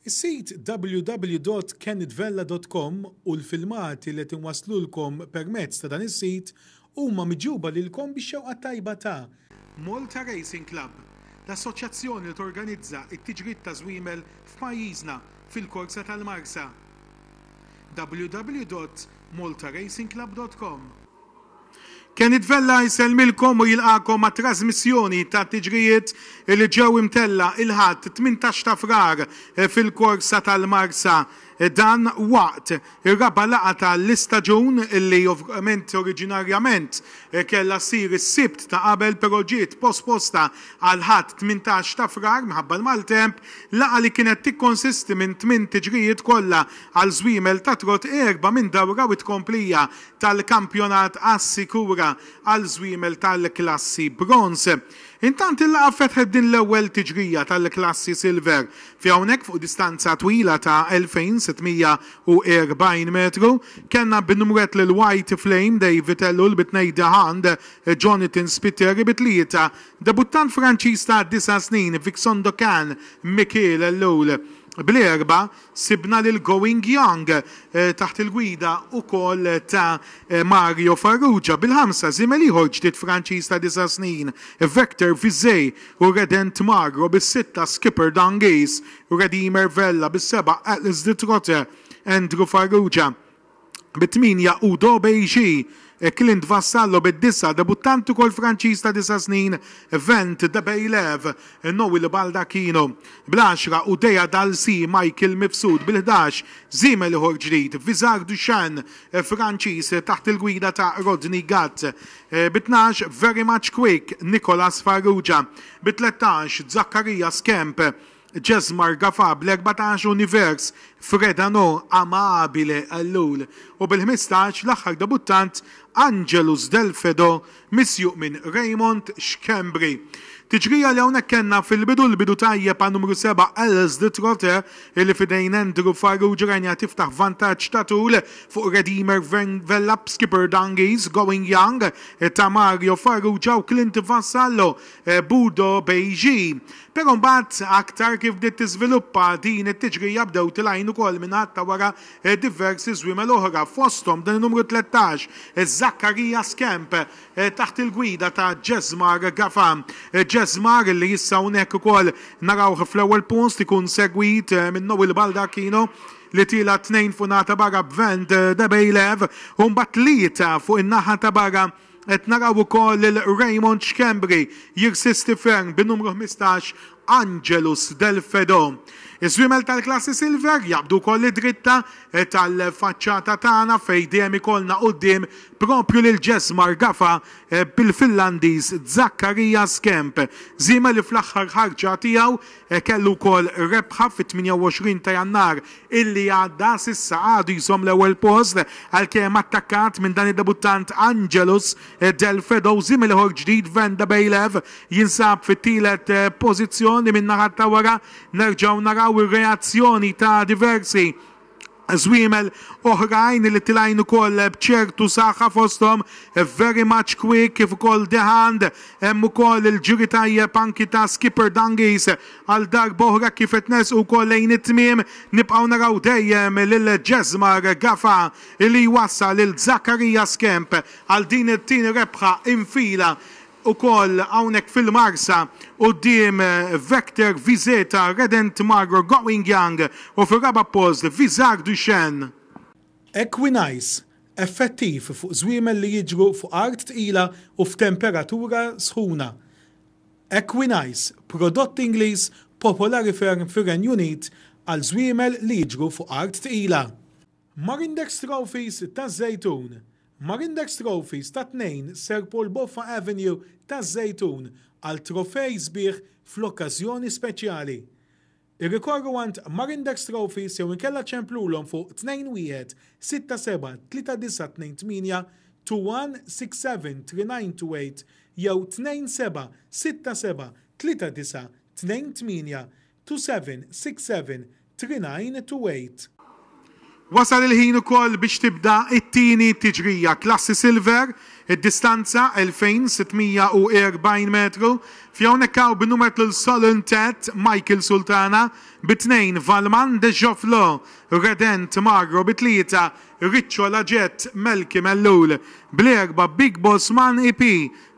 Is-sit www.kennetvella.com u l-filmati li qed inwasslulkom permezz ta' dan is-sit huma miġjuba lilkom bix-xewqa t-tajba ta'. Malta Racing Club, l-assoċjazzjoni li torganizza t-tiġrid ta' żwiemel f'pajjiżna fil-korsa tal-Marsa. www.maltaracingclub.com. Kenny Tvella jsellmilkom u jilqagħkom għat-trażmissjoni tat-tiġrijiet li ġew imtella' il-Ħadd, tmintax ta' Frar, fil-korsa tal-Marsa. Dan waqt ir-raba' laqgħa ta' l-istaġun li ovvjament oriġinarjament kellha ssir is-Sibt ta' qabel però ġiet posposta għall-Ħadd, tmintax ta' Frar, minħabba l-maltemp. Laqgħa li kienet tikkonsisti minn tmien tiġrijiet kollha għal żwiemel tat-trott, erbgħa minn dawra u tkomplija tal-kampjonat assikura għal żwiemel tal-klassi Bronze. Intant il-laqgħa fetħet din l-ewwel tiġrija tal-klassi Silver fi hawnhekk fuq distanza twila ta' 2,640 metru kellna bin-numrett lil White Flame, Dave Vitello, il-bitnej De Hand, Jonathan Spiteri, bi tlieta, debuttant Franċiż ta' disa' snin, Vixondokan, Michael Ellul, bl-erbgħa, Sibna lil Going Young taħt il-gwida wkoll ta' Mario Farrugia bil-ħamsa, żiemel ieħor ġdid Franċiż ta' disa' snin, Vector Vizé u Redent Magro bis-sitta, Skipper Dangees u Redimer Vella bis-seba', Atlas de Trotte, Andrew Farrugia. bit-tmienja u Dobey Xi e Clint Vassallo bid-disa', debuttant ukoll Franċiż ta' disa' snin, Vent de Beylev, Noel Baldacchino bl-għaxra u Dea Dal Si, Michael Mifsud bil-ħdax, żiemel ieħor ġdid, Visard Duchan, Franċiż taħt il-gwida ta' Rodney Gatt, bit-tnax, Very Much Quick, Nicolas Farrugia, bit-tlettax, Zaccaria Skemp, Jazz Marga fa' bl-erbatax univers, Fred Anò, Amabile Ellul, u bil-ħmistax l-aħħar debuttant Angelus Del Fedò misjuq minn Raymond Schembri. Tiġrija li hawnhekk kellna fil-bidu l-bidu tajjeb għal numru seba' Els de Trotte illi f'idejn Andrew Farrugia rajniha tiftaħ vantaġġ ta' tul fuq Redeemer Vella b'Skipper Dungies, Going Young ta' Mario Farrugia u Clint Vassallo Budo Beiji. Però mbagħad aktar kif bdiet tiżviluppa din it-tiġrija bdew tilgħin ukoll min-naħat ta' wara diversi żwiemel oħra fosthom dan in-numru tlettax, Zaccaria Scamp, taħt il-gwida ta' Jesmar Gafa. Jesmar li issa hawnhekk ukoll narawh fl-ewwel post ikun segwit minn Noel Baldacchino li tiela' tnejn fuq naħa ta' barra b'Vend Debejlev u mbagħad tlieta fuq in-naħa ta' barra Qed naraw ukoll lil Raymond Schembri jirsisti ferm bin-numru ħmistax Angelus Del Fedo. Iż-żwiemel tal-klassi Silver jaqbdu wkoll id-dritta tal-faċċata tagħna fejn dejjem ikollna quddiem proprju lil Jesmar Gafa bil-Finlandiż Zackaria Skemp, żiemel li fl-aħħar ħarġa tiegħu Kellu wkoll rebħa fit-28 ta' Jannar illi għadda, s'issa għadu jżomm l-ewwel post għalkemm attakkat minn dan id-debuttant Angelus Del Fedosi mill-ieħor ġdid Venda Bejlev jinsab fit-tielet pożizzjoni. Min-naħa ta' wara nerġgħu naraw ir-reazzjoni ta' diversi żwiemel oħrajn li tilgħin ukoll b'ċertu saħħa fosthom Very Much Quick kif ukoll The Hand. Hemm ukoll il-ġiri tajjeb anki ta' Skipper Dungies. Għal darba oħra kif qed nersqu wkoll lejn it-tmiem nibqgħu naraw dejjem lil Jesmar Gafa li jwassal lil Zakaria Skemp għal din it-tieni rebħa infila ukoll hawnhekk fil-Marsa quddiem Vector Vizeta Redent Magro Going Young u fir-raba' post Visage du Chêne. Equinice, effettiv fuq żwiemel li jiġru fuq art tqila u f'temperatura sħuna. Equinice, prodott Ingliż popolari ferm fir-Renju Unit għal żwiemel li jiġru fuq art tqila. Marindex Trophies taż-Żejtun, Marindex Trophies ta' 2 Sir Paul Boffa Avenue taż-Żejtun għal trofej sbieħ fl-okkażjoni speċjali. Irrikorru għand Marindex Trophies jew inkella ċemplulhom fuq 2-1-6-7-3-9-8-2-1-6-7-3-9-2-8 jew 2-7-6-7-3-9-2-8 27673928. Wasal il-ħin ukoll biex tibda t-tieni tiġrija Klassi Silver, id-distanza 2640 metru, fi hawnhekk hawn bin-numer tlul Solon Tet, Michael Sultana, bi tnejn Valman De Jofflò, Redent Magro, bi tlieta Riccio Laget, Melky Mellul, bl-erbgħa Big Boss Man EP,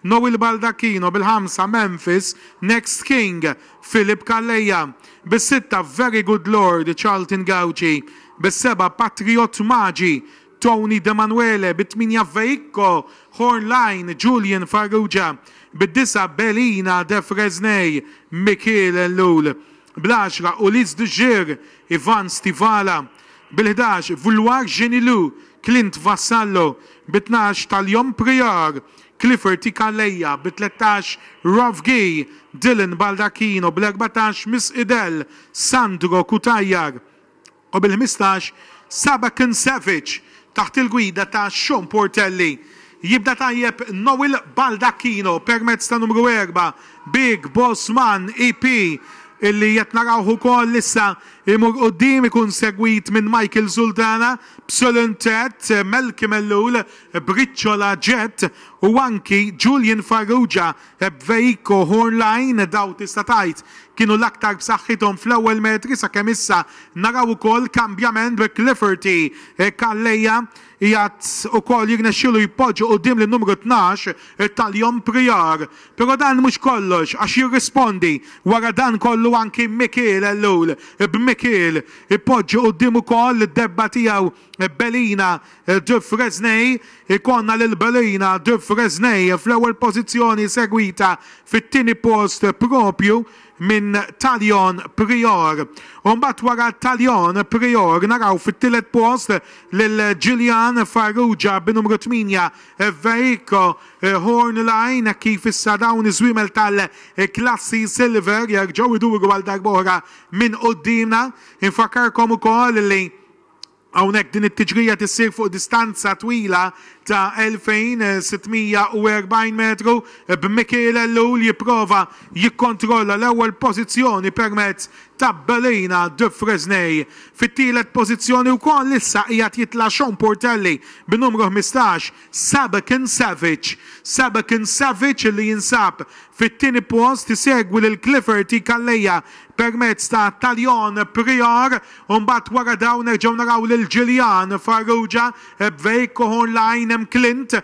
Noel Baldacchino bil-ħamsa, Memphis, Next King, Philip Calleja, bis-sitta, Very Good Lord, Charlton Gauci, bis-sebgħa, Patriot Maġi, Tony D'Emanuele, bit-tmienja, Veicco, Horn Line, Julian Farrugia, bid-disgħa, Belina, De Fresnay, Mikiel Ellul. bl-għaxra, Ulysse de Geer, Ivan Stivala, bil-ħdax, Vouloir Genilou, Clint Vassallo, bi tnax, Talion Prior, Clifford Ikalea, bi tlettax, Ralph Guy, Dylan Baldacchino, bl-erbatax, Miss Idel, Sandro Cutajar, u bil-ħmistax sab Ken Savage taħt il-gwida ta' Sean Portelli. Jibda tajjeb Noel Baldacchino permezz ta' numru erbgħa Big Boss Man EP illi qed narawh ukoll issa jmur quddiem ikun segwit minn Michael Sultana b'Sulun Tet, Melky Mellul b'Riċċola Jet u anki Julian Farrugia Ebvei, Cohorn Line, dawn tista' tgħid kienu l-aktar b'saħħithom fl-ewwel metri sakemm issa naraw ukoll kambjament bi Clifferty Calleja qiegħed ukoll jirnexxielu jpoġġi quddiem lin-numru tnax Talion Prior. Però dan mhux kollox għax jirrispondi wara dan kollu anki Mikiel Ellul b'Mikiel ipoġġi quddiem ukoll id-debba tiegħu Belina Dufresnay, ikollna lil Belina Dufresnay fl-ewwel pożizzjoni segwita fit-tieni post proprju minn Talion Prior. U mbagħad wara Talion Prior naraw fit-tielet post lil Ġiljan Farrugia bi numru 8 Vehicle Horn Line hekk kif issa dawn iż-żwiemel tal-klassi Silver jerġgħu jduru għal darb'oħra minn quddiemna. Infakkarkom ukoll li Hawnhekk din it-tiġrija tissir fuq distanza twila ta' 2,640 metru b'Mikiel Ellul jipprova jikkontrolla l-ewwel pożizzjoni permezz ta' Belina de Fresnay. Fit-tielet pożizzjoni wkoll issa qiegħed jitla' Sean Portelli bin-numru 15 Sabekin Savic. Sabekin Savic li jinsab fit-tieni post isegwi lil Clifford T. Calleja permezz ta' Talion Prior. U mbagħad wara dawn nerġgħu naraw lil Gillian, Farrugia, Bveig, Cohorn Laing, hemm Clint,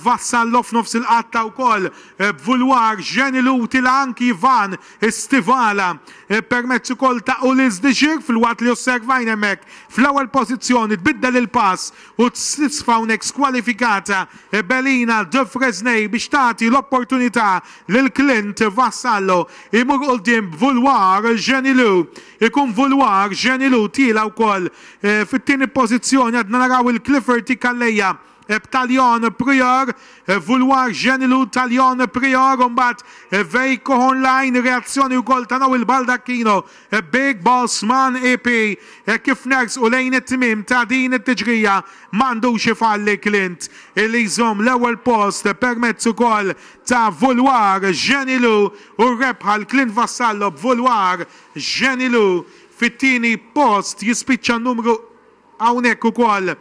Vassallo f'nofs il-qatta wkoll, Bvulwar, Jenny Lutila, anki Ivan, Stivala, permezz ukoll ta' Ulysse Dixir filwaqt li osservajna hemmhekk fl-ewwel pożizzjoni tbiddel il-pass u tisfa hawnhekk skwalifikata Belina de Fresnay biex tagħti l-opportunità lil Clint, Vassallo, imur quddiem Bvulwar, Jenny Lu. Ikun Vouloir, Jean Ilou tiela' wkoll fit-tieni pożizzjoni. Għadna naraw il-Clifferty Calleja b'Talion Prior, Vouloir, Jean Ilou, Talion Prior u mbagħad Veikko Hornlein. Reazzjoni wkoll ta' Noel Baldacchino, Big Boss Man EP. Kif nersqu lejn it-tmiem ta' din it-tiġrija ma għandux ifalli Clint li jżomm l-ewwel post permezz ukoll ta' Vouloir, Jean Ilou u r-rebħa għal Clint Vassallo b'Vouloir. Jenny Lu fit-tieni post jispiċċa n-numru hawnhekk ukoll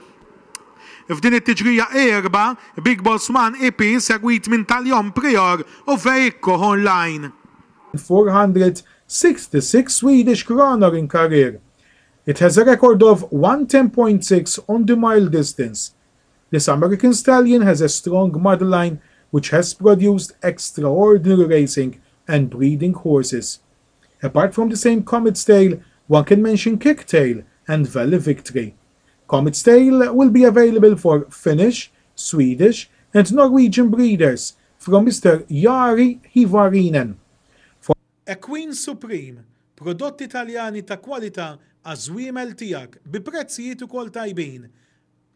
f'din it-tiġrija erba' Big Boss Man EP segwit minn Talion Prior u Veikko Hornline. 466 Swedish kronor in career, it has a record of one 10.6 on the mile distance. This American stallion has a strong motherline which has produced extraordinary racing and breeding horses. Apart from the same Comet's Tale, one can mention Kick Tail and Valley Victory. Comet's Tale will be available for Finnish, Swedish and Norwegian breeders from Mister Jari Hyvarinen. A Queen Supreme, prodotti Taljani ta' kwalità għaż-żwiemel tiegħek bi prezzijiet ukoll tajbin.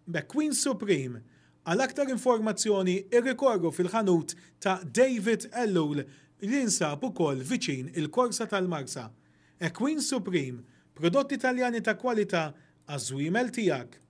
McQueen Supreme. Għal aktar informazzjoni irrikorru fil-ħanut ta' David Ellul li jinsab ukoll viċin il-Korsa tal-Marsa. Equine Supreme, prodotti Taljani ta' kwalità għaż-żwiemel tiegħek.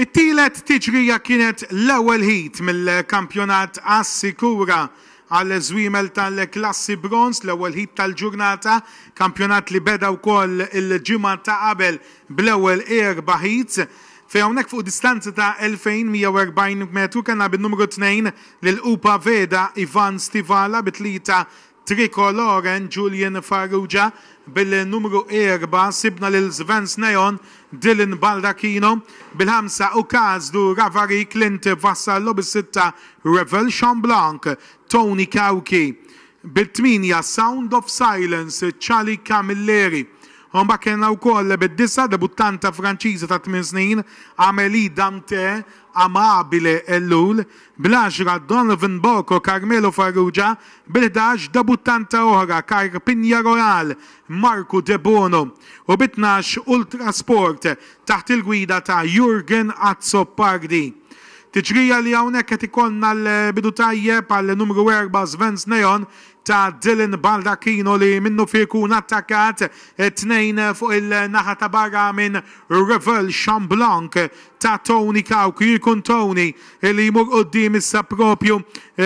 It-tielet tiġrija kienet l-ewwel heat mill-kampjonat Assikura Għall-żwiemel tal-klassi bronż, l-ewwel heat tal-ġurnata, kampjonat li beda wkoll il-ġimgħa ta' qabel bl-ewwel erba' heats, fejn hawnhekk fuq distanza ta' 2,140 metru kellna bin-numru tnejn lil Upa Veda, Ivan Stivala, bi tlieta Trikoloren, Julian Farrugia, bil-numru erba' sibna lil Svens Neon, Dylan Baldacchino, bil-ħamsa Ukazdu Ravari, Clint Vassallo, bis-sitta Revel Chamblanc, Tony Cauchi, bit-tmienja Sound of Silence, Charlie Camilleri. U mbagħad kellna wkoll bid-disgħa debuttanta Franċiża ta' tmien snin, Amélie Dante, Amabile Ellul, bl-għaxra Donovan Bocco, Carmelo Farrugia, bil-ħdax debuttanta oħra Carpinia Royale, Marco Debono, u bit-tnax Ultrasport, taħt il-gwida ta' Jurgen Azzopardi. Tiġrija li hawnhekk qed ikollna l-bidu tajjeb għall-numru erba' Svens Neon ta' Dylan Baldacchino li minnufih ikun attakkat tnejn fuq il-naħa ta' barra minn Revel Xamblanc ta' Tony Cauchi u jkun Tony li jmur quddiem issa propju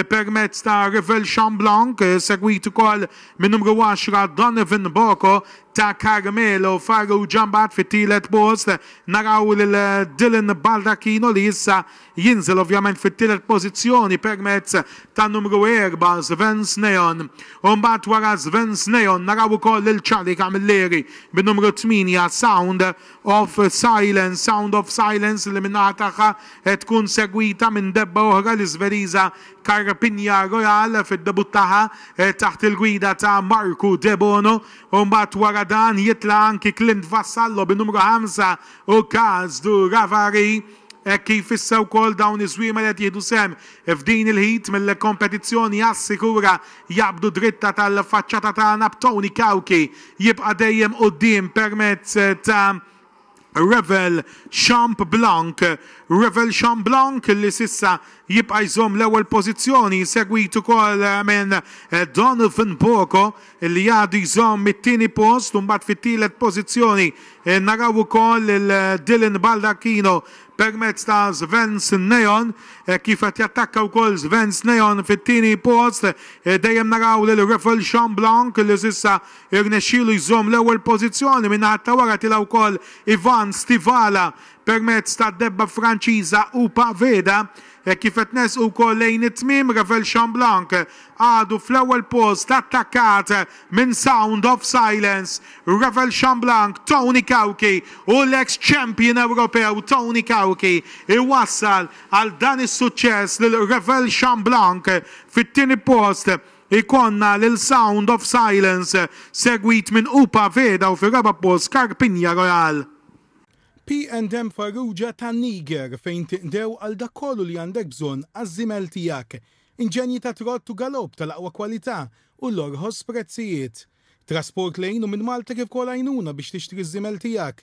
permezz ta' Revel Xamblanc segwit ukoll min-numru 10 Donovan Boko ta' Carmelo Farrugia. Mbagħad fit-tielet post naraw lil Dylan Baldacchino li issa jinżel ovvjament fit-tielet pożizzjoni permezz tan-numru erbgħa Sven Sneon. U mbagħad wara Sven Sneon naraw ukoll lil Charlie Camilleri bin-numru tmienja Sound of Silence. Sound of Silence li min-naħa tagħha qed tkun segwita minn debba oħra l-Iżveriża Carpinia Royale fid-debutt tagħha taħt il-gwida ta' Marco Debono. u mbagħad wara dan jitla' anki Clint Vassallo bin-numru 25 Sdu Ravari hekk kif issa wkoll dawn iż-żwiema li qed jieħdu sehem f'din il-heat mill-kompetizzjoni għas-sikura jaqbdu dritta tal-faċċata tagħna b'Tony Cauchi jibqa' dejjem quddiem permezz ta' Revel Champ Blanc, Revel Champ Blanc li s'issa jibqa' jżomm l-ewwel pożizzjoni segwit ukoll minn Donovan Boko li għadu jżomm it-tieni post u mbagħad fit-tielet pożizzjoni naraw ukoll lil Dylan Baldacchino permezz ta' Svens Neon kif qed jattakka wkoll Svens Neon fit-tieni post dejjem naraw lil Revel Champ Blanc li s'issa Irnexxielu jżomm l-ewwel pożizzjoni, min-naħa ta' wara tilgħa wkoll Ivan Stivala permezz tad-debba Franċiża Upa Veda. Hekk kif qed nersqu wkoll lejn it-tmiem, Ravel Chamblanc għadu fl-ewwel post attakkat minn Sound of Silence, Ravel Chamblanc, Tony Cauchi u l-eks champion Ewropew Tony Cauchi jwassal għal dan is-suċċess lil Ravel Chamblanc fit-tieni post. Ikollna lil Sound of Silence, segwit minn Upa Veda u fir-raba' post Carpinia Royale. P and M Farrugia ta' Niger fejn tinqdew għal dak kollu li għandek bżonn għaż-żiemel tiegħek. Inġenji ta' trott u galopp tal-aqwa kwalità u l-orħos prezzijiet. Trasport lejn u minn Malta kif ukoll għajnuna biex tixtri ż-żiemel tiegħek.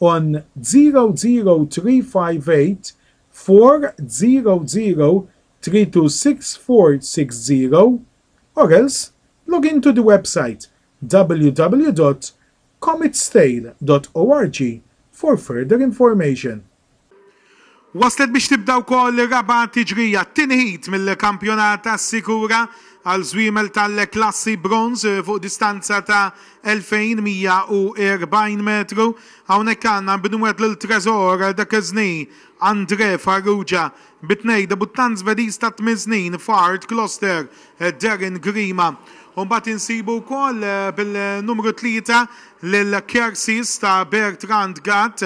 on 0035840032640 or else log in to the website www.cometstale.org for further information. Waslet biex tibda wkoll ir-raba' tiġrija, t-tieni heat mill-kampjonat Assikura għal żwiemel tal-klassi bronż fuq distanza ta' 2,140 metru. Hawnhekk għandna nbinwet lil Tresor Duquesne, Andre Farrugia, bi tnej debuttant Żvediż ta' tmien snin f'Art Kloster, Darren Grima. U mbagħad insibu wkoll bil-numru tlieta lil Kersis ta' Bertrand Gatt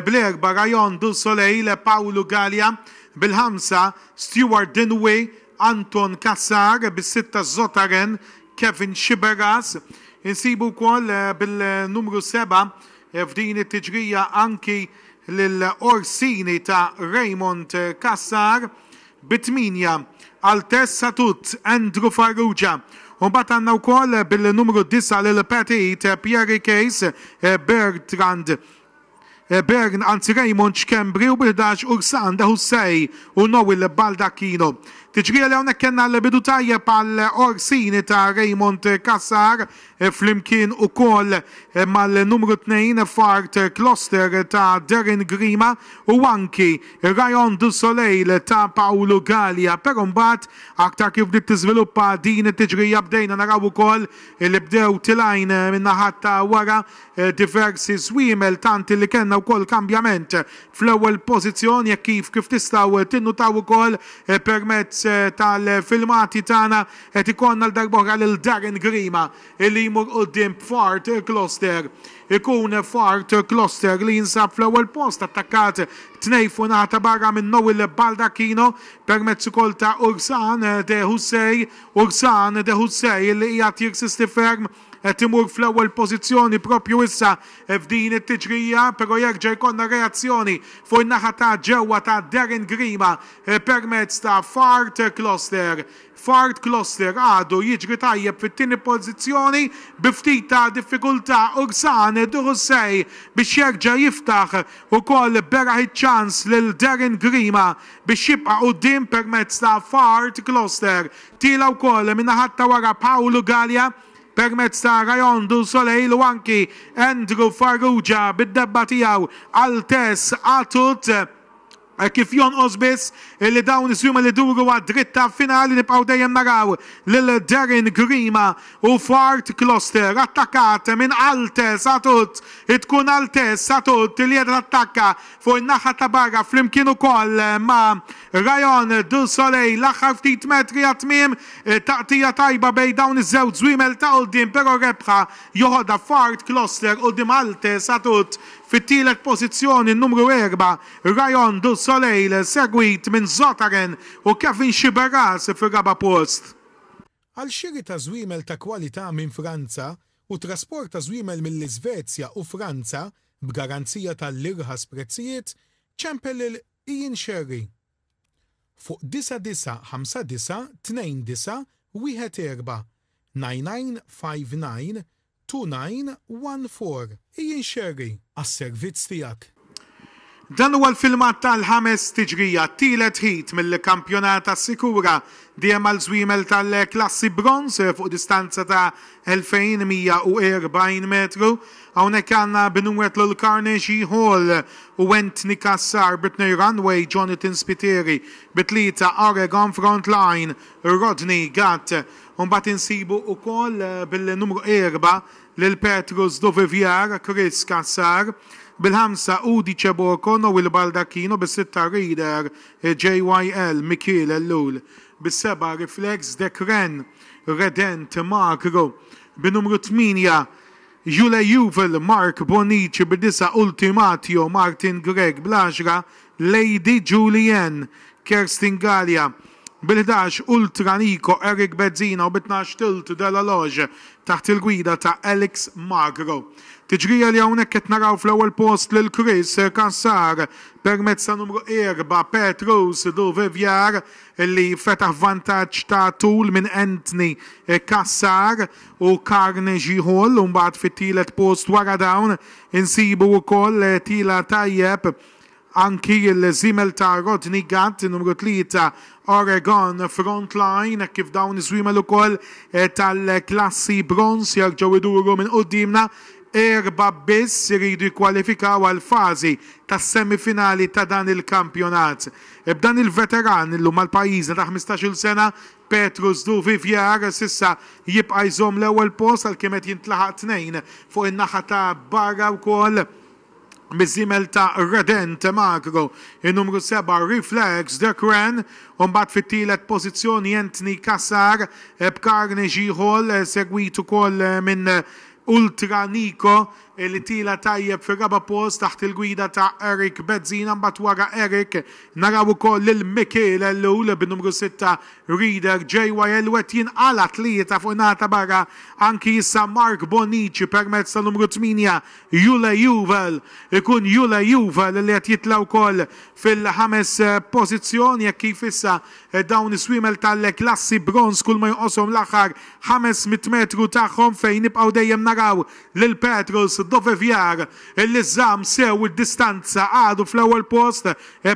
Blair Barrajon, Du Soleil, Paolo Galea, bil-ħamsa, Stewart Dinwi, Anton Cassar, bis-sitta, Zotaren, Kevin Sciberras. Insibu wkoll bil-numru seba' f'din it-tiġrija anki lil Orsini ta' Raymond Cassar. Bi tmienja, Altesse Satut, Andrew Farrugia. U mbagħad għandna wkoll bil-numru disa' lil Petit, Pierre Case, Bertrand Bern, anzi Raymond Schembri u bi ħdax Ursan de Hussey u Noel Baldacchino. Tiġrija li hawnhekk kellna l-bidu tajjeb għal Orsini ta' Raymond Cassar flimkien ukoll mal-numru tnejn f'Art Kloster ta' Darren Grima u anki Rayon du Soleil ta' Paolo Galea. Però mbagħad aktar kif bdiet tiżviluppa din it-tiġrija bdejna naraw ukoll li bdew tilgħin min-naħat ta' wara diversi żwiemel tant li kellna wkoll kambjament fl-ewwel pożizzjoni hekk kif kif tistgħu tinnutaw ukoll permezz tal-filmati tagħna qed ikollna għal darba oħra lil Darren Grima li jmur quddiem b'Fart Kloster ikun Fart Kloster li jinsab fl-ewwel post attakkat tnejn fuq in-naħa ta' barra minn Noel Baldacchino permezz ukoll ta' Ursan de Hussey Ursan de Hussey li qiegħed jirsisti ferm Qed imur fl-ewwel pożizzjoni proprju issa f'din it-tiġrija, però jerġa' jkollna reazzjoni fuq in-naħa ta' ġewwa ta' Darren Grima permezz ta' Fard Kloster. Fard Kloster għadu jiġri tajjeb fit-tieni pożizzjoni bi ftit ta' diffikultà Ursan Duhussey biex jerġa' jiftaħ ukoll beraħ iċ-ċans lil Darren Grima biex jibqa' quddiem permezz ta' Fard Kloster. Tila wkoll min-naħat ta' wara Paul Galea permezz ta' Rayon du Soleil u anki Andrew Farrugia bid-debba tiegħu għal Tess Atut. Hekk kif jonqos biss illi dawn is-swimel iduru għad-dritta finali nibqgħu dejjem naraw lil Darren Grima u Fard Closter attakkat minn Altess Atut. Tkun Altess Atut li qiegħda tattakka Fuq in-naħa ta' barra flimkien ukoll ma' Rayon du Soleil l-aħħar ftit metri għat-tmiem, taqtigħa tajba bejn dawn iż-żewġ żwiemel ta' quddiem però rebħa joħodha Fard Kloster quddiem Halte Satut fit-tielet pożizzjoni n-numru erbgħa Rayon du Soleil segwit minn Zotaren u Kevin Sciberras fir-raba' post. Għal xiri ta' żwiemel ta' kwalità minn Franza u trasport ta' żwiemel mill-Isvezja u Franza b'garanzija tal-irħas prezzijiet, ċempel lil Ian Scerri fuq 9959291499592914. Ian Scerri, għas-servizz tiegħek. Dan huwa l-filmat tal-ħames tiġrija, t-tielet heat mill-kampjonat Assikura dm għal żwiemel tal-klassi bronż fuq distanza ta' 2,140 metru. Hawnhekk għandna Binuet Lulkarne, Xi Hall u Anthony Cassar bi tnej runway, Jonathan Spiteri bi tlieta, Oregon front line, Rodney Gatt. Imbagħad insibu wkoll bil-numru erba' lil Petrus Duvivier, Chris Cassar, bil-ħamsa Udi Ceboco, Noel Baldacchino, bis-sitta Reader, JYL, Mikiel Ellul, bis-sebgħa Reflex, Dekren, Redent, Magro, bin-numru tmienja Jule Juvel, Mark Bonnici, bid-disgħa Ultimatio, Martin Grech, bl-għaxra Lady Julie Anne, Kerstin Galea, bil-ħdax ultra Nico, Eric Bezzina u bit-tnax Tilt de la Loge taħt il-gwida ta' Alex Magro. Tiġrija li hawnhekk qed naraw fl-ewwel post lil Chris Cassar permezz ta' numru erba' Petrus Duvivier li fetaħ vantaġġ ta' tul minn Anthony Cassar u Carnegie Hall u mbagħad fit-tielet post wara dawn insibu wkoll tila tajjeb Anki l-żiemel ta' Rodney Gatt, in-numru tlieta Oregon Front Line, hekk kif dawn iż-żwiemel ukoll tal-klassi bronż jerġgħu jduru minn quddiemna, erba' biss iridu jikkwalifikaw għall-fażi tas-semifinali ta' dan il-kampjonat. B'dan il-veteran illum għal pajjiżna ta' ħmistax-il sena, Petrus Duvivier, s'issa jibqa' jżomm l-ewwel post għalkemm qed jintlaħaq tnejn fuq in-naħa ta' barra wkoll. miż-żiemel ta' Redent Magro, in-numru seba' Reflex The Cran u mbagħad fit-tielet pożizzjoni Anthony Cassar b'Carnage Ieħol, segwit ukoll minn Ultra Nico li tiela' tajjeb fir-raba' post taħt il-gwida ta' Eric Bezzina. Mbagħad wara Eric naraw ukoll lil Mikiel Ellul bin-numru sitta Reader JYL u qed jinqala' tlieta fuq in-naħa ta' barra anki issa Mark Bonnici permezz tan-numru tmienja Jule Juwel, Ikun Jule Juwel li qed jitla' wkoll fil-ħames pożizzjoni hekk kif issa dawn is-swiemel tal-klassi bronż kulma jonqoshom l-aħħar 500 metru tagħhom fejn nibqgħu dejjem naraw lil Petrus Duvivier li żamm sew id-distanza għadu fl-ewwel post.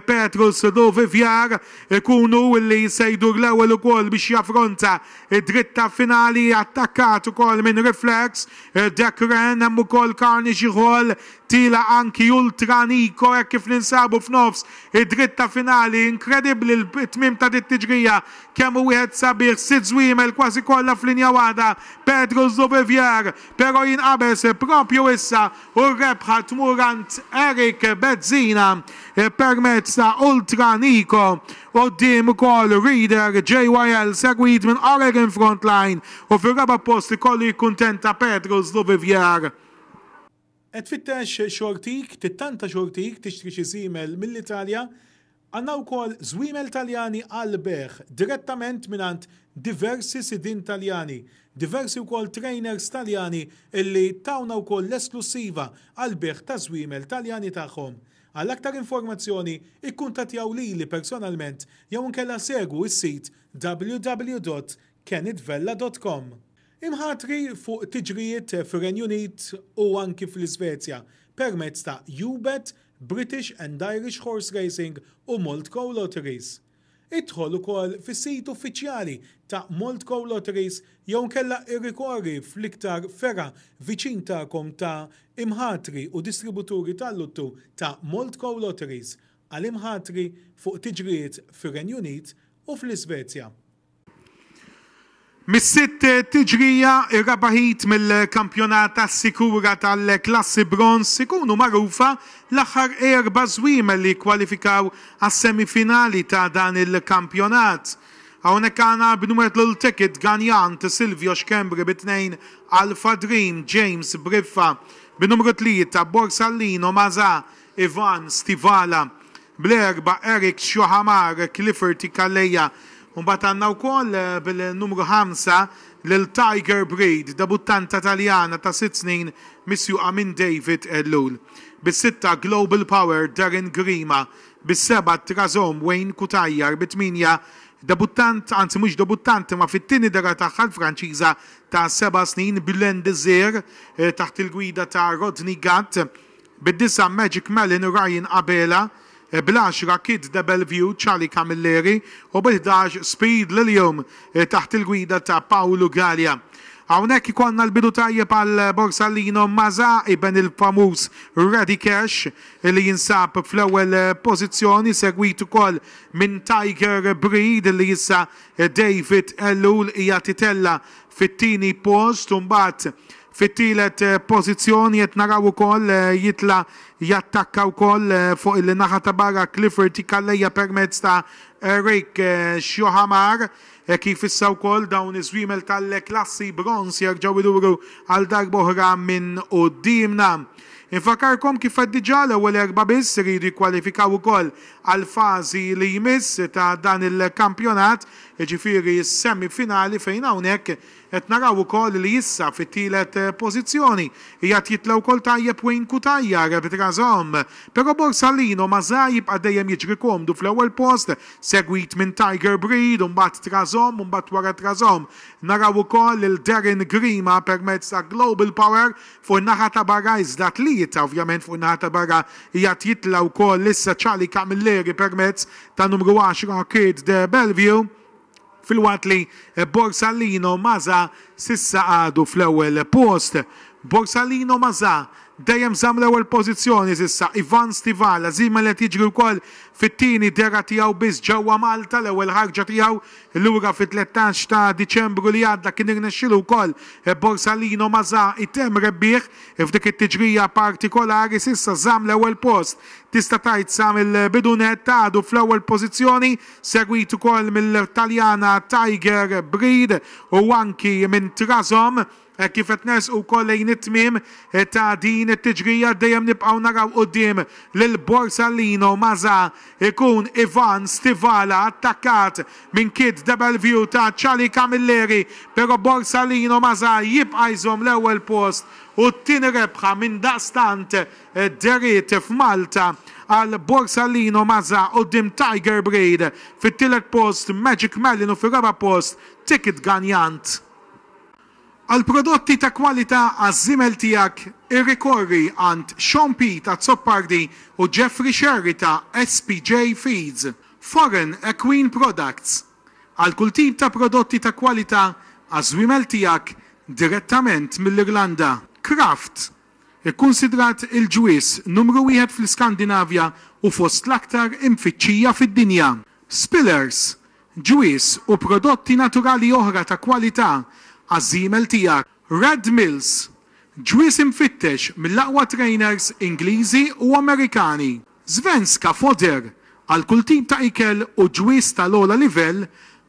Petrus Duvivier ikun hu li se jdur l-ewwel ukoll biex jaffronta d-dritta finali attakkat ukoll minn Reflex. Dekren, hemm ukoll karni xi ħol, tila anki Ultra Niko hekk kif ninsabu f'nofs id-dritta finali. Inkredibbli l-tmiem ta' dit-tiġrija, kemm hu wieħed sabiħ, sitt żwiemel kważi kollha f'linja waħda, Pedro Zubivier però jinqabeż proprju issa u r-rebħa tmur għand Eric Bezzina permezz ta' Ultra Niko Quddiem Cole Reeder, JYL segwit minn Oregon Frontline u fir-raba' post ikollu jikkuntenta Pedro Zluvivier. Qed tfittex xortik, tittanta xortik, tixtri xi żiemel mill-Italja? Għandna wkoll żwiemel Taljani għall-bejgħ direttament mingħand diversi sidien Taljani, diversi wkoll trainers Taljani illi tawna wkoll l-esklussiva għall-bejgħ taż-żwiemel Taljani tagħhom. Għal aktar informazzjoni, ikkuntattjaw lili personalment jew inkella segwu s-sit www.kennetvella.com. Imħatri fuq tiġrijiet fir-Renju Unit u anki fl-Isvezja permezz ta' UBET, British and Irish Horse Racing u Malt Co Lotteries. Idħol ukoll fis-sit uffiċjali ta' Moldco Lotteries jew inkella irrikorri fl-iktar fergħa viċin tagħkom ta' imħatri u distributuri tal-luttu ta' Moldco Lotteries għal imħatri fuq tiġrijiet fir-Renju Unit u fl-Isvezja. Mis-sitt tiġrija, ir-raba' heat mill-kampjonat assikura tal-klassi bronż, ikunu magħrufa l-aħħar erba' żwiemel li jikkwalifikaw għas-semifinali ta' dan il-kampjonat. Hawnhekk għandna b'numru Lil Ticket, Gagnant, Silvio Schembri bi tnejn, Alpha Dream, James, Briffa, b'numru tlieta, Borsallino, Mazà, Ivan, Stivala. bl-erba' Eric Tchouamar, Clifford Ikalea u mbagħad għandna wkoll bil-numru ħamsa lil Tiger Breed, debuttanta Taljana ta' sitt snin misjuqa minn David Ellul. Bis-sitta Global Power, Darren Grima, bis-seba' Trazom, Wayne Cutajar, bit-tmienja debuttant, anzi mhux debuttant imma fit-tieni dehra tagħha l-Franċiża ta' seba' snin, Guylaine Desir, taħt il-gwida ta' Rodney Gatt. Bid-disa' Magic Melon, Ryan Abela, bl-għaxra Kid Debelvue, Charlie Camilleri, u bil-ħdax Speed Lilium taħt il-gwida ta' Paolo Galea. Hawnhekk ikollna l-bidu tajjeb għal Borsallino Mazza iben il-famuż Ready Cash li jinsab fl-ewwel pożizzjoni segwit ukoll minn Tiger Breed li issa David Ellul qiegħed itella' fit-tieni post u mbagħad Fit-tielet pożizzjoni qed naraw ukoll jitla' jattakka wkoll fuq il-naħa ta' barra Clifford Calleja permezz ta' Eric Xiohamar kif issa wkoll dawn iż-żwiemel tal-klassi bronż jerġgħu jduru għal darba oħra minn quddiemna. Infakkarkom kif qed diġà l-ewwel erbgħa biss iridu jikkwalifikaw ukoll għall-fażi li jmiss ta' dan il-kampjonat, jiġifieri s-semi finali fejn hawnhekk Qed naraw ukoll li issa fit-tielet pożizzjoni qiegħed jitla' wkoll tajjeb Wayne Cutajar b'Trazom, però Borsalino ma żal jibqa' dejjem jiġri komdu fl-ewwel post segwit minn Tiger Breed u mbagħad Trazom u mbagħad wara Trazom naraw ukoll lil Darren Grima permezz ta' Global Power fuq in-naħa ta' barra iżda tlieta ovvjament fuq in-naħa ta' barra qiegħed jitla' wkoll issa Charlie Camilleri permezz tan-numru 10 Kid De Bellevue. Filwaqt li Borsalino Mazza s'issa għadu fl-ewwel post, Borsalino Mazza dejjem żamm l-ewwel pożizzjoni s'issa, Ivan Stivala żiemel qed jiġri wkoll fit-tieni dehra tiegħu biss ġewwa Malta, l-ewwel ħarġa tiegħu lura fit-tlettax ta' Diċembru li għadda kien irnexxielu wkoll Borsalino Mazza jtemm rebbieħ f'dik it-tiġrija partikolari, s'issa żamm l-ewwel post tista' tgħid sa mill-bidu nett għadu fl-ewwel pożizzjoni. segwit ukoll mill-Taljana Tiger Breed u anki minn Trazom. Hekk kif qed nersqu wkoll lejn it-tmiem ta' din it-tiġrija dejjem nibqgħu naraw quddiem lil Borsalino ma' sa jkun Ivan Stivala attakkat minn Kid Debelvue ta' Charlie Camilleri però Borsalino ma' sa jibqa' jżomm l-ewwel post u t-tieni rebħa minn daqstant Id-dehriet f'Malta għal Borsalino Mazza quddiem Tiger Breed, fit-tielet post Magic Melon u fir-raba' post Ticket Ganjant. Għal prodotti ta' kwalità għaż-żiemel tiegħek irrikorri għand Sean Pete Azzopardi u Jeffrey Scerri ta' SPJ Feeds. Foreign Equine Products, għal kull tip ta' prodotti ta' kwalità għaż-żwiemel tiegħek direttament mill-Irlanda. Kraft, Ikkunsidrat il-ġwież numru wieħed fl-Iskandinavja u fost l-aktar imfittxija fid-dinja. Spillers, ġwież u prodotti naturali oħra ta' kwalità għaż-żiemel tiegħek. Red Mills, ġwież imfittex mill-aqwa trainers Ingliżi u Amerikani. Svenska Foder, għal kull tip ta' ikel u ġwież tal-ogħla livell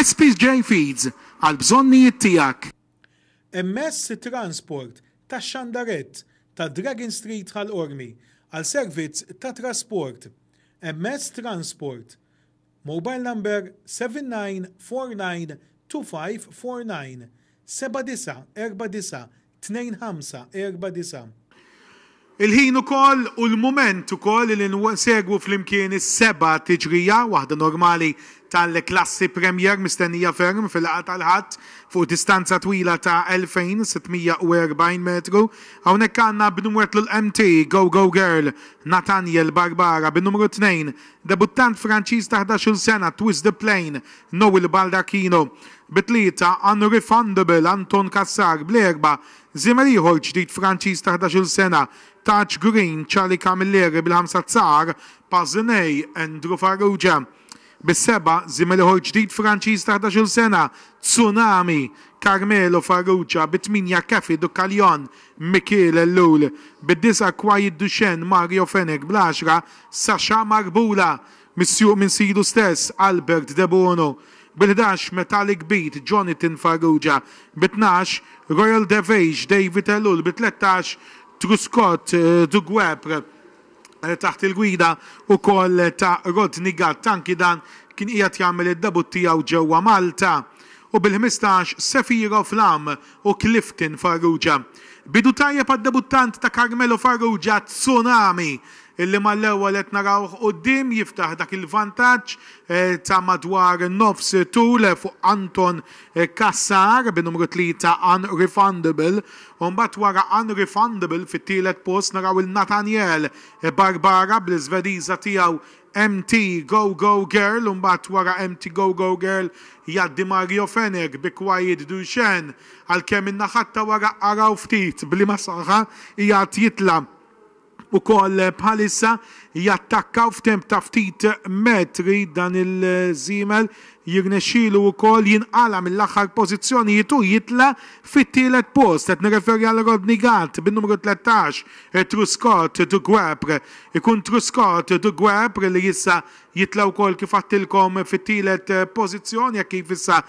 SPJ Feeds, għall-bżonnijiet tiegħek. MS Transport, tax-Xandarett, ta' Dragon Street Ħal Qormi, għal servizz ta' trasport. MS Transport, Mobile number 79492549, 79492549. 2 5 4 9 Il-ħin ukoll u l-mument ukoll li nsegwu flimkien is-seba' tiġrija, waħda normali tal-klassi Premier mistennija ferm fil-laqgħa tal-Ħadd fuq distanza twila ta' 2,640 metru. Hawnhekk għandna b'numwetlu l-MT Go Go Girl Nathaniel Barbara bin-numru tnejn, debuttant Franċiż ta' ħdax-il sena Twist the Plane Noel Baldacchino, Bi tlieta unrefundable Anton Cassar, bl-erbgħa, żiemel ieħor ġdid Franċiż ta' ħdax-il sena, Taj Green, Charlie Camilleri, bil-ħamsa Tsar, Paziney, Andrew Farrugia, bis-sebgħa, żiemel ieħor ġdid Franċiż ta' ħdax-il sena, Tsunami, Carmelo Farrugia, bit-tmienja Caffy du Callion, Mikiel Ellul, bid-disgħa Quiet Duchenne, Mario Fenech, bl-għaxra Sasha Marbula, Misjuq minn sidu stess, Albert de Bono, bil-ħdax, Metallic Beat, Jonathan Farrugia, bi tnax, Royal Devage, David Ellul, bi tlettax, Truscott, The Guepr, taħt il-gwida wkoll ta' Rodney Gatt, anki dan kien qiegħed jagħmel id-debutt tiegħu ġewwa Malta, u bil-ħmistax, Sephiroth Lam, u Clifton Farrugia. Bidu tajjeb għad-debuttant ta' Carmelo Farrugia, Tsunami, illi mal-ewwel qed narawh quddiem jiftaħ dak il-vantaġġ ta' madwar nofs tul fuq Anton Cassar bin-numru tlieta Unrefundable u mbagħad wara Unrefundable fit-tielet post naraw 'il Nathaniel Barbara bl-Iżvediża tiegħu MT Go Go Girl u mbagħad wara MT Go Go Girl jgħaddi Mario Fenech bi Quiet Duchenne għalkemm in-naħat ta' wara araw ftit b'liema saħħa qiegħed jitla' wkoll bħalissa. Jattakkaw f'temp ta' ftit metri dan il-żiemel Jirnexxilu wkoll jinqala' mill-aħħar pożizzjonijiet u jitla' fit-tielet post. Qed nirreferi għal Rodney Gatt bin-numru tlettax, Truscott de Guepr. Ikun Truscott de Guepr li issa jitla' wkoll kif għadtilkom fit-tielet pożizzjoni hekk kif issa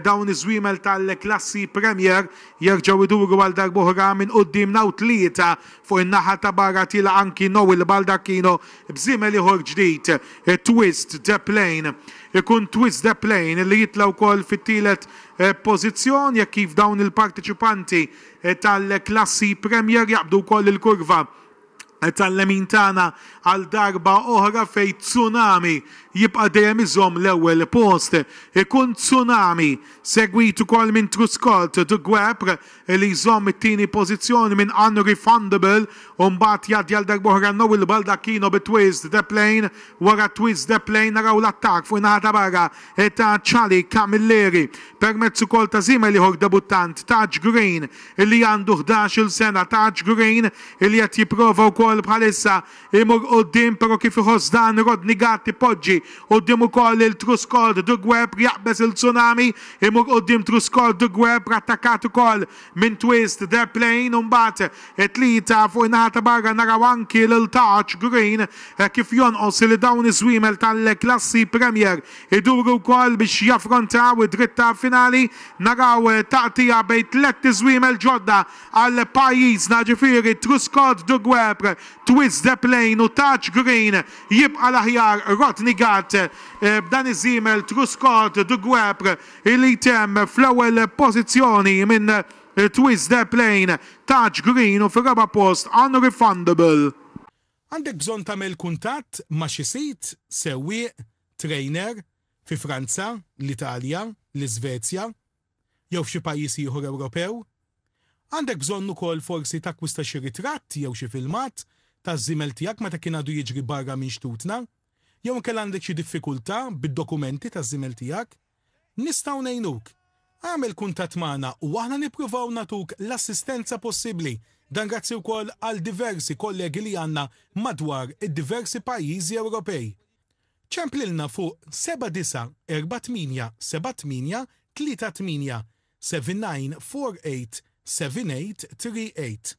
dawn iż-żwiemel tal-klassi Premier jerġgħu jduru għal darb'oħra minn quddiemna u tlieta fuq in-naħa ta' barra tilgħa anki Noel Baldacchino B'żiemel ieħor ġdid, it-Twist the Plane, ikun Twist the Plane li jitla' wkoll fit-tielet pożizzjon jekk kif dawn il-parteċipanti tal-klassi Premier jaqbdu wkoll il-kurva tal-lemin tagħna għal darba oħra fejn Tsunami jibqa' dejjem iżomm l-ewwel post. Ikun Tsunami segwit ukoll minn Truscott the Gwepr li jżomm it-tieni pożizzjoni minn Unrefundable u mbagħad jgħaddi għal darb'oħra Noel Baldacchino bi Twist the Plane, wara Twist the Plane naraw l-attakk fuq in-naħa ta' barra ta' Charlie Camilleri permezz ukoll ta' żiemel ieħor debuttant Taj Green li għandu ħdax-il sena, Taj Green li qed jipprova wkoll bħalissa Imur quddiem però kif iħoss dan Rodney Gatt ipoġġi quddiem ukoll lil Truscord de Guebr jaqbeż lil Tsunami, imur quddiem Truscord de Guebr attakkat ukoll minn Twist the Plane u mbagħad it-tlieta fuq in-naħa ta' barra naraw anki lil Taj Green hekk kif jonqos li dawn iż-żwiemel tal-klassi Premier iduru wkoll biex jaffrontaw id-dritta finali. Naraw taqtigħa bejn tliet iżwiemel ġodda għal pajjiżna ġifieri Truscord de Guebr, Twist de Plane u Touch Green, jibqa' l-aħjar Rodney Gatt b'dan iż-żiemel Truscott du Guêpre li jtemm fl-ewwel pożizzjoni minn Twist de Plane, Touch Green u fir-raba' post Unrefundable. Għandek bżonn tagħmel kuntatt ma' xi sid, sewwieq, trainer, fi Franza, l-Italja, l-Iżvezja, jew f'xi pajjiż ieħor Ewropew. Għandek bżonn ukoll forsi takkwista xi ritratt jew xi filmat taż-żiemel tiegħek meta kien għadu jiġri barra minn xtutna. Jew inkella għandek xi diffikultà bid-dokumenti taż-żiemel tiegħek. Nistgħu ngħinuk. Agħmel kuntatt magħna u aħna nippruvaw nagħtuk l-assistenza possibbli. Dan grazzi wkoll għal diversi kollegi li għandna madwar id-diversi pajjiżi Ewropej. Ċemplilna fuq 79487838 79487838.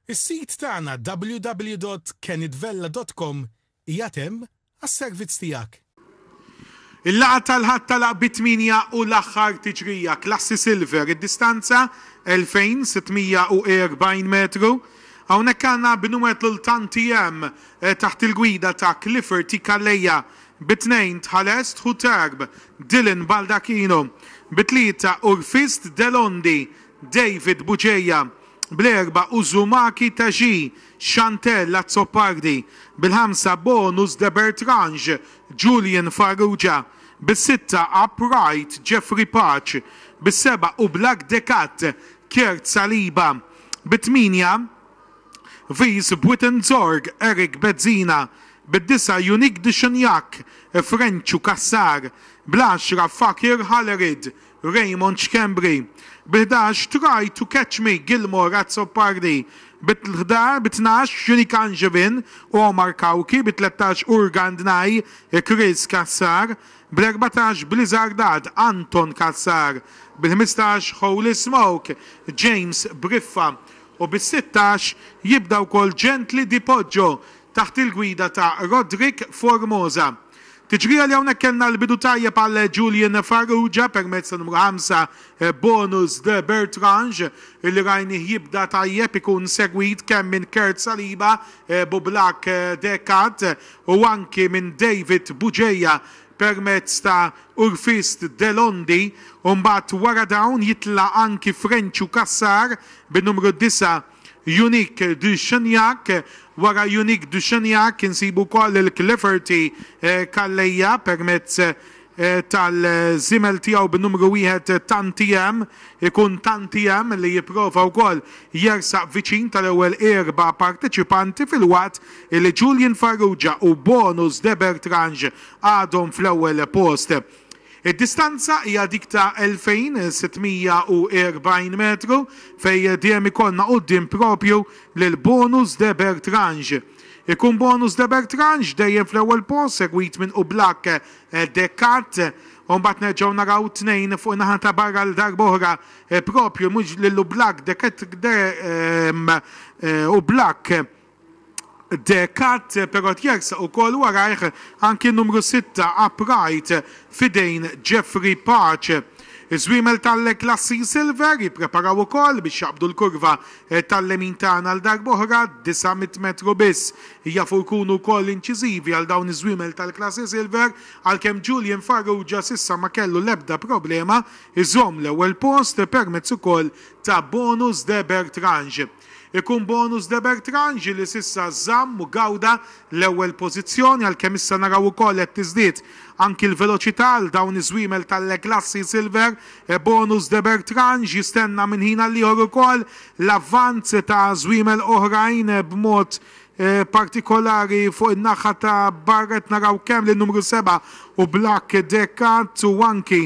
Is-sit tagħna www.kenitvella.com qiegħed hemm għas-servizz tiegħek. Il-laqgħa tal-Ħadd tagħlaq bi tmienja u l-aħħar tiġrija, klassi silver, id-distanza 2640 metru. Hawnhekk għandna b'numru l-tanti hemm taħt il-gwida ta' Clifford I. Calleja, bi tnejn Tħalest Hutarb, Dylan Baldacchino, bi tlieta Urfist Delondi, David Bugeja, bl-erbgħa Uzumaki Tagee, Chantelle Azzopardi, bil-ħamsa Bonus de Bertrange, Julian Farrugia, bis-sitta Upright Jeffrey Pace, bis-sebgħa Oblak Decat, Kurt Saliba, bit-tmienja, Vice Buitenzorg Eric Bezzina bid-disa' Yunick Duchignac, Frenċu Cassar, bl-għaxra Fakir Hallerid, Raymond Schembri, bi ħdax Try to Catch Me Gilmore Azzopardi, bi tnax Yunick Angevin u Omar Cauchi, bi tlettax Urgand Nay Chris Cassar, bl-erbatax Blizzardad Anton Cassar, bil-ħmistax Holy Smoke James Briffa, u bis-sittax jibda wkoll Gently di Poggio taħt il-gwida ta' Roderick Formosa. Tiġrija li hawnhekk kellna l-bidu tajjeb għal Julian Farrugia permezz ta' numru ħamsa Bonus de Bertrange li rajnih jibda tajjeb ikun segwit kemm minn Kurt Saliba, Bublak Decat u anki minn David Bugeja permezz ta' Urfist Delondi u mbagħad wara dawn jitla' anki Frenċu Cassar bin-numru disa' Yunick de Cheniac. Wara Yunick de Cheniac insibu wkoll lil Cleferty Calleja permezz tal-żiemel tiegħu bin-numru wieħed Tantiem. Ikun Tantiem li jipprova wkoll jersaq viċin tal-ewwel erba' parteċipanti filwaqt li Julian Farrugia u Bonus de Bertrange għadhom fl-ewwel post. Id-distanza hija dik ta' 2,640 metru fejn dejjem ikollna quddiem proprju lil Bonus de Bertrange. Ikun Bonus de Bertrange dejjem fl-ewwel post segwit minn Oublack de Cat u mbagħad nerġgħu naraw tnejn fuq in-naħa ta' barra għal darba oħra proprju mhux lil Oublack de Cat Oublack De Cat, però tjersaq ukoll warajh anki n-numru sitta Upright f'idejn Jeffrey Pace. Iż-żwiemel tal-Le Classy Silver jippreparaw ukoll biex jaqbdu l-kurva tal-lemin tagħna għal darb'oħra, 900 metru biss. Jafu jkunu wkoll inċiżivi għal dawn iż-żwiemel tal-Classy Silver għalkemm Julian Farrugia s'issa ma kellu l-ebda problema jżomm l-ewwel post permezz ukoll ta' Bonus de Bertrange. Ikun bonus De Bertrange li s'issa żamm u gawda l-ewwel pożizzjoni għalkemm issa naraw ukoll qed tiżdied anki l-veloċità għal dawn iż-żwiemel tal-Le Glacis Silver. Bonus De Bertrange jistenna minn ħin għal ieħor ukoll l-avvanz ta' żwiemel oħrajn b'mod partikolari fuq in-naħa ta' barra qed naraw kemm lin-numru seba' u Black Decat u anki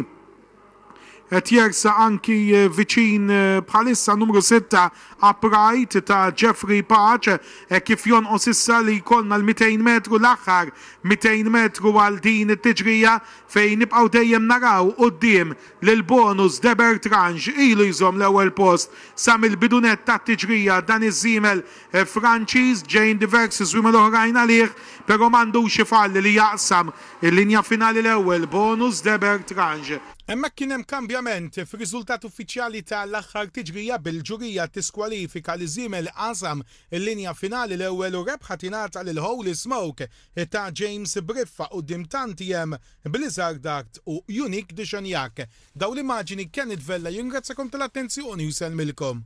Qed jersaq anki viċin bħalissa n-numru sitta Upright ta' Jeffrey Pace hekk kif jonqos issa li jkollna l-200 metru, l-aħħar 200 metru għal din it-tiġrija fejn nibqgħu dejjem naraw quddiem lil Bonus Debertrange. Ilu jżomm l-ewwel post sa mill-bidu nett tat-tiġrija dan iż-żiemel Franċiż, ġejjin diversi swimel oħrajn għalih, però m'għandux ifalli li jaqsam il-linja finali l-ewwel bonus Deber Trange. Hemmhekk kien hemm kambjament fir-riżultat uffiċjali ta' l-aħħar tiġrija bil-ġurija tiskwalifika li żiemel li qasam il-linja finali l-ewwel u rebħa tingħata lil Holy Smoke ta' James Briffa quddiem tantiem Blizzard Art u Unique Dixonjac. Dawn l-immaġini Kenneth Vella jirringrazzjakom ta' l-attenzjoni u jsellmilkom.